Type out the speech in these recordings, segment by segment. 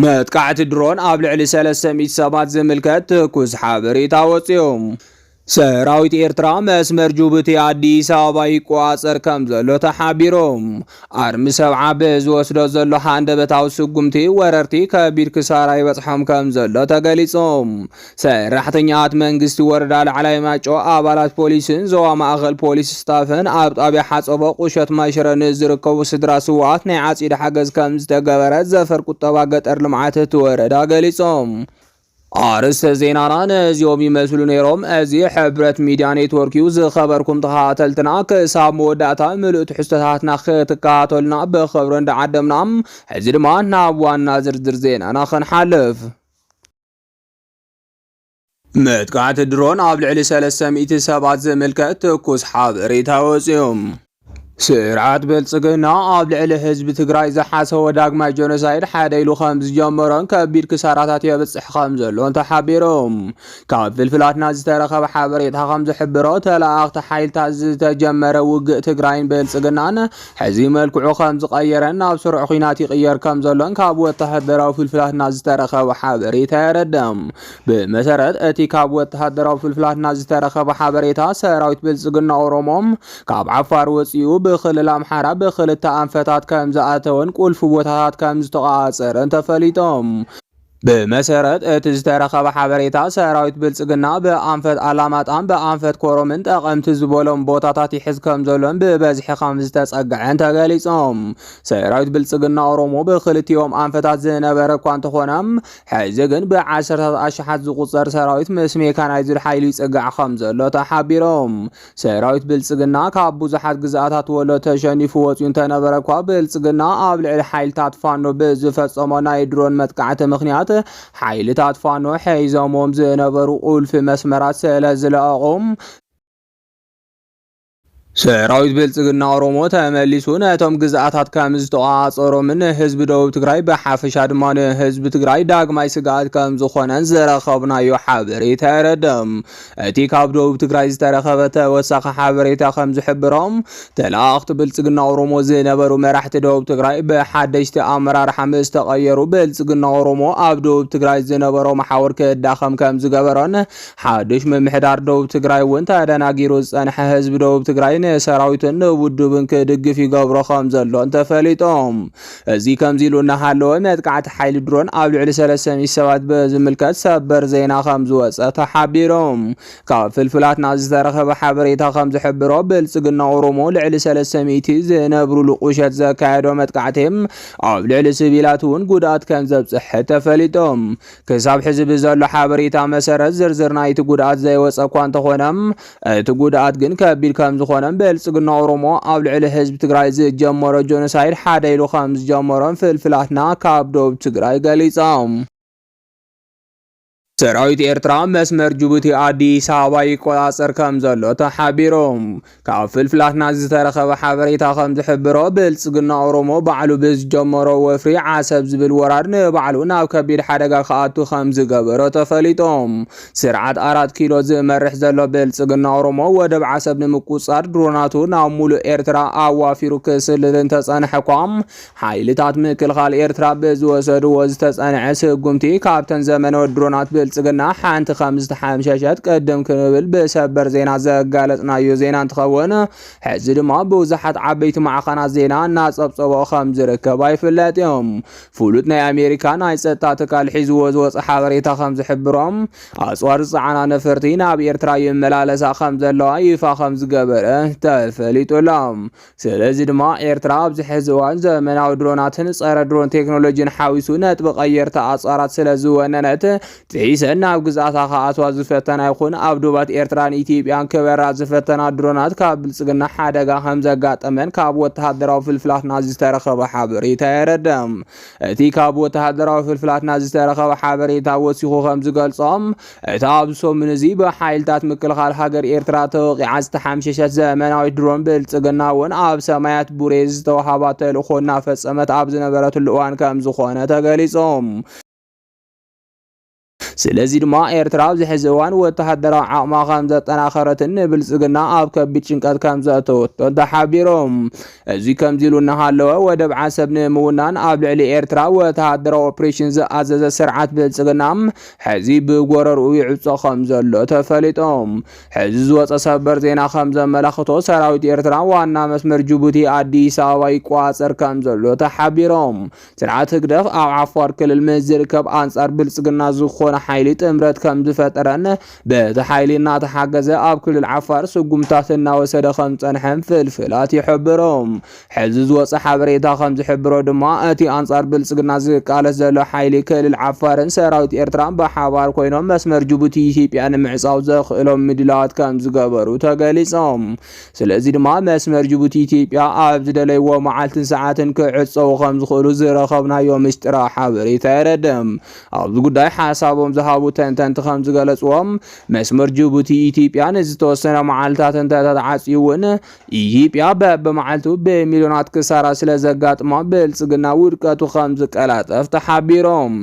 መጥቃዕቲ ድሮን ኣብ ልዕሊ ሰለስተ ሚእቲ ሰባት ዝምልከት ትኩስ ሓበሬታ ወፂኡ። ሰራዊት ኤርትራ መስመር ጁቡቲ ኣዲስ ኣበባ ይቆፃፀር ከም ዘሎ ተሓቢሩ። ኣርሚ ሰብዓ ብዝወስዶ ዘሎ ሃንደበታዊ ስጉምቲ ወረርቲ ከቢድ ክሳራ ይበፅሖም ከም ዘሎ ተገሊፁ። ሰራሕተኛታት መንግስቲ ወረዳ ላዕላይ ማይጨው፣ ኣባላት ፖሊስን ዞባ ማእኸል ፖሊስ ስታፍን ኣብ ጣብያ ሓፀቦ ቁሸት ማይሽረ ንዝርከቡ ስድራ ስውኣት ናይ ዓፂድ ሓገዝ ከምዝተገበረ ዘፈር ቁጠባ ገጠር ልምዓት እቲ ወረዳ ገሊፆም። ኣርስተ ዜናና ነዚኦም ይመስሉ ነይሮም። እዚ ሕብረት ሚዲያ ኔትወርክ እዩ። ዝኸበርኩም ተኸታተልትና ክሳብ መወዳእታ ምሉእ ትሕዝቶታትና ክትከታተሉና ብኽብሪ እንዳዓደምና ሕዚ ድማ ናብ ዋና ዝርዝር ዜናና ክንሓልፍ መጥቃዕቲ ድሮን ኣብ ልዕሊ ሰለስተ ሚእቲ ሰባት ዝምልከት ትኩስ ሓበሬታ ወፂኡ። ስርዓት ብልፅግና ኣብ ልዕሊ ህዝቢ ትግራይ ዝሓሰቦ ዳግማይ ጀኖሳይድ ሓደ ኢሉ ከም ዝጀመሮን ከቢድ ክሳራታት የብፅሕ ከም ዘሎን ተሓቢሩ። ካብ ፍልፍላትና ዝተረኸበ ሓበሬታ ከም ዝሕብሮ ተለኣኽቲ ሓይልታት ዝተጀመረ ውግእ ትግራይን ብልፅግናን ሕዚ መልክዑ ከም ዝቐየረን ናብ ስሩዕ ኲናት ይቕየር ከም ዘሎን ካብ ወተሃደራዊ ፍልፍላትና ዝተረኸበ ሓበሬታ የረድእ። ብመሰረት እቲ ካብ ወተሃደራዊ ፍልፍላትና ዝተረኸበ ሓበሬታ፣ ሰራዊት ብልጽግና ኦሮሞ ካብ ዓፋር ወጺኡ ብክልል ኣምሓራ ብክልተ ኣንፈታት ከም ዝኣተወን ቁልፊ ቦታታት ከም ዝተቖጻጸረን ተፈሊጦም። ብመሰረት እቲ ዝተረኸበ ሓበሬታ ሰራዊት ብልፅግና ብኣንፈት ኣላማጣን ብኣንፈት ኮሮምን ጠቐምቲ ዝበሎም ቦታታት ይሕዝ ከም ዘሎን ብበዝሒ ከም ዝተፀግዐን ተገሊፆም። ሰራዊት ብልፅግና ኦሮሞ ብክልቲኦም ኣንፈታት ዝነበረ እኳ እንተኾነ ሕዚ ግን ብዓሰርታት ኣሽሓት ዝቑፀር ሰራዊት ምስ ሜካናይዝድ ሓይሊ ይፅጋዕ ከም ዘሎ ተሓቢሮም። ሰራዊት ብልጽግና ካብ ብዙሓት ግዝኣታት ወሎ ተሸኒፉ ወጺኡ እንተነበረ እኳ ብልጽግና ኣብ ልዕሊ ሓይልታት ፋኖ ብዝፈጸሞ ናይ ድሮን መጥቃዕቲ ምኽንያት ሓይልታት ፋኖ ሐይዘሞም ዝነበሩ ቁልፊ መስመራት ስለ ዝለኣቖም ሰራዊት ብልጽግና ኦሮሞ ተመሊሱ ነቶም ግዝኣታት ከም ዝተቆጻጸሮምን ንህዝቢ ደቡብ ትግራይ ብሓፈሻ ድማ ንህዝቢ ትግራይ ዳግማይ ስግኣት ከም ዝኾነን ዝረኸብናዮ ሓበሬታ የረድእ። እቲ ካብ ደቡብ ትግራይ ዝተረኸበ ተወሳኺ ሓበሬታ ከም ዝሕብሮ ተለኣኽቲ ብልፅግና ኦሮሞ ዝነበሩ መራሕቲ ደቡብ ትግራይ ብሓደሽቲ ኣመራርሓ ምስ ተቐየሩ ብልፅግና ኦሮሞ ኣብ ደቡብ ትግራይ ዝነበሮ መሓውር ክዳኸም ከም ዝገበሮን ሓዱሽ ምምሕዳር ደቡብ ትግራይ እውን ተደናጊሩ ዝፀንሐ ህዝቢ ደቡብ ትግራይ ንሰራዊትን ንውድብን ክድግፍ ይገብሮ ከም ዘሎን ተፈሊጦም እዚ ከምዚ ኢሉ እናሃለወ መጥቃዕቲ ሓይሊ ድሮን ኣብ ልዕሊ ሰለስተ ሚእቲ ሰባት ብዝምልከት ሰበር ዜና ከም ዝወፀ ተሓቢሩ። ካብ ፍልፍላትና ዝተረኸበ ሓበሬታ ከም ዝሕብሮ ብልፅግና ኦሮሞ ልዕሊ ሰለስተ ሚእቲ ዝነብሩሉ ቁሸት ዘካየዶ መጥቃዕቲ ኣብ ልዕሊ ስቪላት እውን ጉድኣት ከም ዘብፅሐ ተፈሊጡ። ክሳብ ሕዚ ብዘሎ ሓበሬታ መሰረት ዝርዝር ናይቲ ጉድኣት ዘይወፀ እኳ እንተኾነ እቲ ጉድኣት ግን ከቢድ ከምዝኾነን ብልፅግና ኦሮሞ ኣብ ልዕሊ ህዝቢ ትግራይ ዝጀመሮ ጆኖሳይድ ሓደ ኢሉ ከምዝጀመሮን ፍልፍላትና ካብ ዶብ ትግራይ ገሊፆም። ሰራዊት ኤርትራ መስመር ጅቡቲ ኣዲስ ኣበባ ይቆጻጸር ከም ዘሎ ተሓቢሩ። ካብ ፍልፍላትና ዝተረኸበ ሓበሬታ ከም ዝሕብሮ ብልጽግና ኦሮሞ ባዕሉ ብዝጀመሮ ወፍሪ ዓሰብ ዝብል ወራር ንባዕሉ ናብ ከቢድ ሓደጋ ክኣቱ ከም ዝገበሮ ተፈሊጦም ስርዓት ኣራት ኪሎ ዝመርሕ ዘሎ ብልጽግና ኦሮሞ ወደብ ዓሰብ ንምቁጽጻር ድሮናቱ ናብ ሙሉእ ኤርትራ ኣዋፊሩ ክስልል እንተጸንሐ እኳ ሓይልታት ምክልኻል ኤርትራ ብዝወሰድዎ ዝተጸንዐ ስጉምቲ ካብተን ዘመነወ ድሮናት ብልጽግና ሓንቲ ከም ዝተሓምሸሸት ቅድም ክንብል ብሰበር ዜና ዘጋለጽናዮ ዜና እንትኸውን ሕዚ ድማ ብብዙሓት ዓበይቲ ማዕኸናት ዜና እናጸብጸቦ ከም ዝርከብ ኣይፍለጥ እዩ። ፍሉጥ ናይ ኣሜሪካ ናይ ጸጥታ ትካል ሒዝዎ ዝወፀ ሓበሬታ ከም ዝሕብሮ ኣጽዋር ዝጸዓና ነፈርቲ ናብ ኤርትራ ይመላለሳ ከም ዘለዋ ይፋ ከም ዝገበረ ተፈሊጡ ኣሎ። ስለዚ ድማ ኤርትራ ኣብዚ ሕዚ እዋን ዘመናዊ ድሮናትን ጸረ ድሮን ቴክኖሎጂን ሓዊሱ ነጥቢ ቀየርቲ ኣጽዋራት ስለ ዝወነነት ሒሰን ናብ ግዝኣታ ክኣትዋ ዝፈተና ይኹን ኣብ ዶባት ኤርትራን ኢትዮጵያን ክበራ ዝፈተና ድሮናት ካብ ብልጽግና ሓደጋ ከም ዘጋጠመን ካብ ወተሃደራዊ ፍልፍላት ናዚ ዝተረኸበ ሓበሬታ የረድእ። እቲ ካብ ወተሃደራዊ ፍልፍላት ናዚ ዝተረኸበ ሓበሬታ ወሲኹ ከም ዝገልጾ እታ ኣብዚ ሰሙን እዚ ብሓይልታት ምክልኻል ሃገር ኤርትራ ተወቒዓ ዝተሓምሸሸት ዘመናዊት ድሮን ብልጽግና እውን ኣብ ሰማያት ቡሬ ዝተዋህባ ተልእኾ እናፈጸመት ኣብ ዝነበረትሉ እዋን ከም ዝኾነ ተገሊጹ። ስለዚ ድማ ኤርትራ ኣብዚ ሕዚ እዋን ወተሃደራዊ ዓቕማ ከምዘጠናኸረትን ንብልጽግና ኣብ ከቢድ ጭንቀት ከምዘእተወቶን ተሓቢሮም። እዚ ከምዚ ኢሉ እናሃለወ ወደብ ዓሰብ ንምውናን ኣብ ልዕሊ ኤርትራ ወተሃደራዊ ኦፕሬሽን ዝኣዘዘ ስርዓት ብልጽግና ሕዚ ብጎረርኡ ይዕጾ ከምዘሎ ተፈሊጦም። ሕዚ ዝወጸ ሰበር ዜና ከምዘመላኽቶ ሰራዊት ኤርትራ ዋና መስመር ጅቡቲ ኣዲስ ኣበባ ይቆጻጸር ከምዘሎ ተሓቢሮም። ስርዓት ህግደፍ ኣብ ዓፋር ክልል ምስ ዝርከብ ኣንጻር ብልጽግና ዝኾነ ሓይሊ ጥምረት ከም ዝፈጠረን በቲ ሓይሊ እናተሓገዘ ኣብ ክልል ዓፋር ስጉምታት እናወሰደ ከም ዝጸንሐን ፍልፍላት ይሕብሩ። ሕዚ ዝወጸ ሓበሬታ ከም ዝሕብሮ ድማ እቲ ኣንጻር ብልጽግና ዝቃለስ ዘሎ ሓይሊ ክልል ዓፋርን ሰራዊት ኤርትራን ብሓባር ኮይኖም መስመር ጅቡቲ ኢትዮጵያ ንምዕጻው ዘኽእሎም ምድላዋት ከም ዝገበሩ ተገሊጾም። ስለዚ ድማ መስመር ጅቡቲ ኢትዮጵያ ኣብ ዝደለይዎ መዓልትን ሰዓትን ክዕፀዉ ከም ዝኽእሉ ዝረኸብናዮ ምስጢራዊ ሓበሬታ የረድእ። ኣብዚ ጉዳይ ሓሳቦም ዝሃቡ ተንተንቲ ከም ዝገለፅዎ መስመር ጅቡቲ ኢትዮጵያ ንዝተወሰነ መዓልታት እንተተትዓፅዩ እውን ኢትዮጵያ በብመዓልቱ ብሚልዮናት ክሳራ ስለ ዘጋጥማ ብልፅግና ውድቀቱ ከም ዝቀላጠፍ ተሓቢሮም።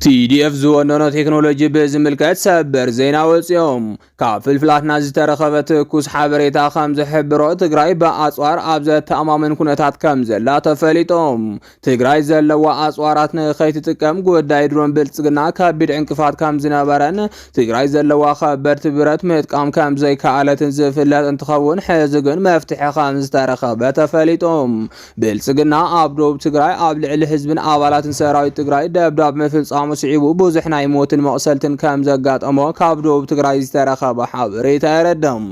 TDF ዝወነኖ ቴክኖሎጂ ብዝምልከት ሰበር ዜና ወፂኦም። ካብ ፍልፍላትና ዝተረኸበ ትኩስ ሓበሬታ ከም ዝሕብሮ ትግራይ ብኣፅዋር ኣብ ዘተኣማምን ኩነታት ከም ዘላ ተፈሊጦም። ትግራይ ዘለዋ ኣፅዋራት ንከይትጥቀም ጉዳይ ድሮን ብልፅግና ከቢድ ዕንቅፋት ከም ዝነበረን ትግራይ ዘለዋ ከበድቲ ብረት ምጥቃም ከም ዘይከኣለትን ዝፍለጥ እንትኸውን ሕዚ ግን መፍትሒ ከም ዝተረኸበ ተፈሊጦም። ብልፅግና ኣብ ዶብ ትግራይ ኣብ ልዕሊ ህዝብን ኣባላትን ሰራዊት ትግራይ ደብዳብ ምፍፃሙ ስዒቡ ብዙሕ ናይ ሞትን መቕሰልትን ከም ዘጋጠሞ ካብ ዶብ ትግራይ ዝተረኸበ ሓበሬታ የረድም።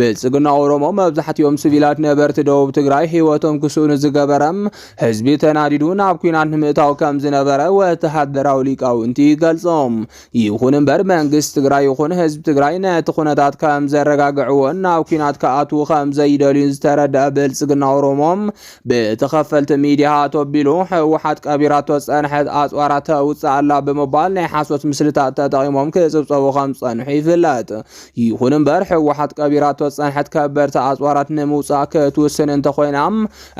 ብልፅግና ኦሮሞ መብዛሕትኦም ስቪላት ነበርቲ ዶብ ትግራይ ህይወቶም ክስእኑ ዝገበረም ህዝቢ ተናዲዱ ናብ ኩናት ንምእታው ከም ዝነበረ ወተሃደራዊ ሊቃውንቲ ይገልፆም። ይኹን እምበር መንግስቲ ትግራይ ይኹን ህዝቢ ትግራይ ነቲ ኩነታት ከም ዘረጋግዕዎን ናብ ኩናት ክኣትዉ ከም ዘይደልዩን ዝተረድኣ ብልጽግና ኦሮሞ ብተኸፈልቲ ሚዲያ ኣቶቢሉ ህወሓት ቀቢራቶ ዝጸንሐት ኣጽዋራ ተውጽእ ኣላ ብምባል ናይ ሓሶት ምስልታት ተጠቒሞም ክጽብጸቡ ከም ዝጸንሑ ይፍለጥ። ይኹን እምበር ህወሓት ቀቢራቶ ዝጸንሐት ከበድቲ ኣጽዋራት ንምውጻእ ክትውስን እንተኾይና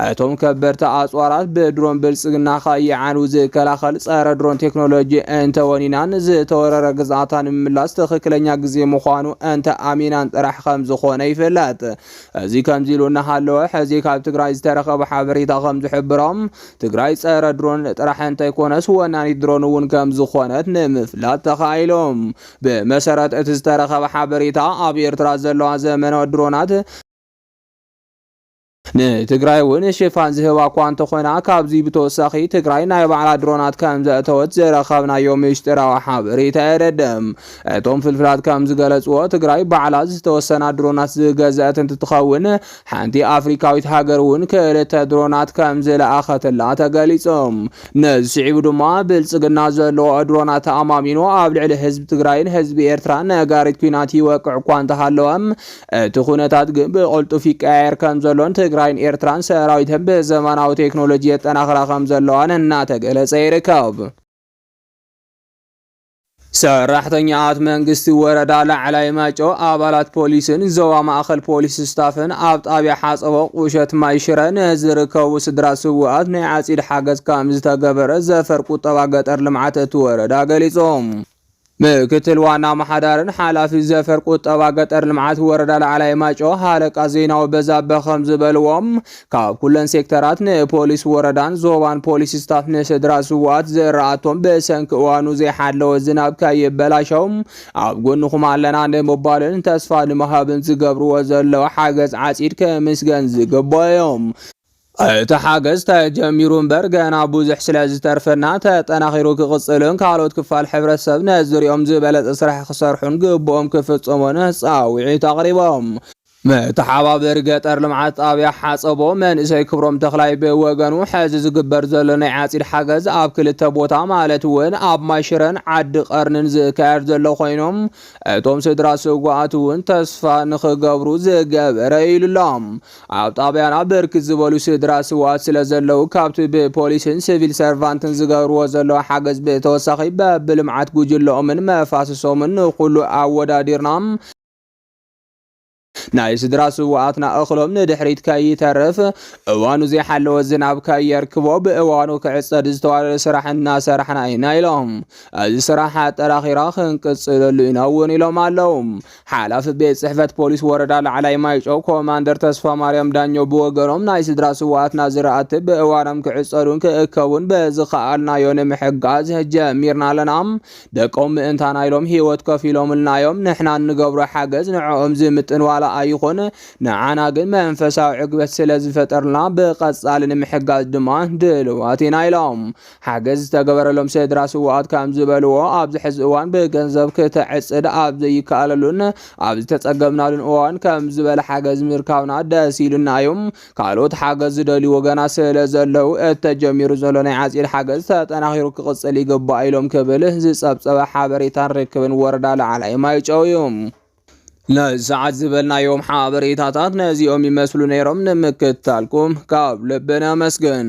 እቶም ከበድቲ ኣፅዋራት ብድሮን ብልፅግና ከይዓንው ዝከላኸል ፀረ ድሮን ቴክኖሎጂ እንተወኒና ንዝተወረረ ግዝኣታ ንምምላስ ትኽክለኛ ግዜ ምዃኑ እንተኣሚናን ጥራሕ ከምዝኾነ ይፍለጥ። እዚ ከምዚ ኢሉ እናሃለወ ሕዚ ካብ ትግራይ ዝተረኸበ ሓበሬታ ከምዝሕብሮ ትግራይ ፀረ ድሮን ጥራሕ እንተይኮነስ ወናኒት ድሮን እውን ከምዝኾነት ንምፍላጥ ተኻኢሉ። ብመሰረት እቲ ዝተረኸበ ሓበሬታ ኣብ ኤርትራ ዘለዋ ዘመናዊ ድሮናት ንትግራይ እውን ሽፋን ዝህባ እኳ እንተኾና ካብዚ ብተወሳኺ ትግራይ ናይ ባዕላ ድሮናት ከምዘእተወት ዝረኸብናዮ ሚስጢራዊ ሓበሬታ የረድእ። እቶም ፍልፍላት ከምዝገለፅዎ ትግራይ ባዕላ ዝተወሰና ድሮናት ዝገዘእት እንትትኸውን ሓንቲ ኣፍሪካዊት ሃገር እውን ክልተ ድሮናት ከምዝለኣኸትላ ተገሊፁ። ነዚ ስዒቡ ድማ ብልፅግና ዘለዎ ድሮናት ተኣማሚኑ ኣብ ልዕሊ ህዝቢ ትግራይን ህዝቢ ኤርትራን ነጋሪት ኲናት ይወቅዕ እኳ እንተሃለወ እቲ ኩነታት ግን ብቕልጡፍ ይቀያየር ከምዘሎን ትግራይን ኤርትራን ሰራዊተን ብዘመናዊ ቴክኖሎጂ የጠናኽራ ከምዘለዋን እናተገለፀ ይርከብ። ሰራሕተኛታት መንግስቲ ወረዳ ላዕላይ ማይጨው፣ ኣባላት ፖሊስን ዞባ ማእኸል ፖሊስ ስታፍን ኣብ ጣብያ ሓፀቦ ቁሸት ማይ ሽረ ንዝርከቡ ስድራ ስውኣት ናይ ዓፂድ ሓገዝ ከምዝተገበረ ዘፈር ቁጠባ ገጠር ልምዓት እቲ ወረዳ ገሊፆም። ምክትል ዋና ኣመሓዳርን ሓላፊ ዘፈር ቁጠባ ገጠር ልምዓት ወረዳ ላዕላይ ማይጨው ሃለቃ ዜናዊ በዛበ ከም ዝበልዎ ካብ ኩለን ሴክተራት ንፖሊስ ወረዳን ዞባን ፖሊስ ስታፍ ንስድራ ስዋኣት ዝራኣቶም ብሰንኪ እዋኑ ዘይሓለወ ዝናብ ከይበላሸው ኣብ ጎንኹም ኣለና ንምባልን ተስፋ ንምሃብን ዝገብርዎ ዘለዉ ሓገዝ ዓፂድ ክምስገን ዝግባዮም እቲ ሓገዝ ተጀሚሩ እምበር ገና ብዙሕ ስለ ዝተርፈና ተጠናኺሩ ክቕፅልን ካልኦት ክፋል ሕብረተሰብ ነዝርኦም ዝበለፀ ስራሕ ክሰርሑን ግቡኦም ክፍፅሙን ፃውዒት ኣቕሪቦም። መተሓባበሪ ገጠር ልምዓት ጣብያ ሓፀቦ መንእሰይ ክብሮም ተኽላይ ብወገኑ ሕዚ ዝግበር ዘሎ ናይ ዓፂድ ሓገዝ ኣብ ክልተ ቦታ ማለት እውን ኣብ ማይ ሽረን ዓዲ ቐርኒን ዝካየድ ዘሎ ኮይኑ እቶም ስድራ ስውኣት እውን ተስፋ ንኽገብሩ ዝገበረ ኢዩ ኢሉሎም። ኣብ ጣብያና ብርክት ዝበሉ ስድራ ስውኣት ስለዘለዉ ካብቲ ብፖሊስን ሲቪል ሰርቫንትን ዝገብርዎ ዘለዉ ሓገዝ ብተወሳኺ በብልምዓት ጉጅለኦምን መፋስሶምን ንኹሉ ኣወዳዲርና ናይ ስድራ ስውኣትና እኽሎም ንድሕሪት ከይተርፍ እዋኑ ዘይሓለወ ዝናብ ከየርክቦ ብእዋኑ ክዕፀድ ዝተዋደደ ስራሕ እናሰራሕና ኢና ኢሎም። እዚ ስራሕ ኣጠራኺራ ክንቅፅለሉ ኢና እውን ኢሎም ኣለው። ሓላፊ ቤት ጽሕፈት ፖሊስ ወረዳ ላዕላይ ማይጨው ኮማንደር ተስፋማርያም ዳኘው ብወገኖም ናይ ስድራ ስውኣትና ዝራእቲ ብእዋኖም ክዕጸዱን ክእከቡን በዝኸኣልናዮ ንምሕጋዝ ጀሚርና ኣለና። ደቆም ምእንታና ኢሎም ህይወት ከፊሎምልና እዮም። ንሕና እንገብሮ ሓገዝ ንዕኦም ዝምጥን ዋላ ኣይኹን፣ ንዓና ግን መንፈሳዊ ዕግበት ስለዝፈጠርልና ብቐጻሊ ንምሕጋዝ ድማ ድልዋት ኢና ኢሎም። ሓገዝ ዝተገበረሎም ስድራ ስውኣት ከምዝበልዎ፣ ኣብዚ ሕዚ እዋን ብገንዘብ ክተዕፅድ ኣብ ዘይከኣለሉን ኣብ ዝተፀገብናሉን እዋን ከምዚ ዝበለ ሓገዝ ምርካብና ደስ ኢሉና እዩ። ካልኦት ሓገዝ ዝደልዩ ወገናት ስለዘለዉ እተጀሚሩ ዘሎ ናይ ዓፂድ ሓገዝ ተጠናኺሩ ክቕፅል ይግባእ ኢሎም ክብል ዝፀብፀበ ሓበሬታን ርክብን ወረዳ ላዕላይ ማይጨው እዩ። ንሰዓት ዝበልናዮም ሓበሬታታት ነዚኦም ይመስሉ ነይሮም። ንምክትታልኩም ካብ ልቢ ነመስግን።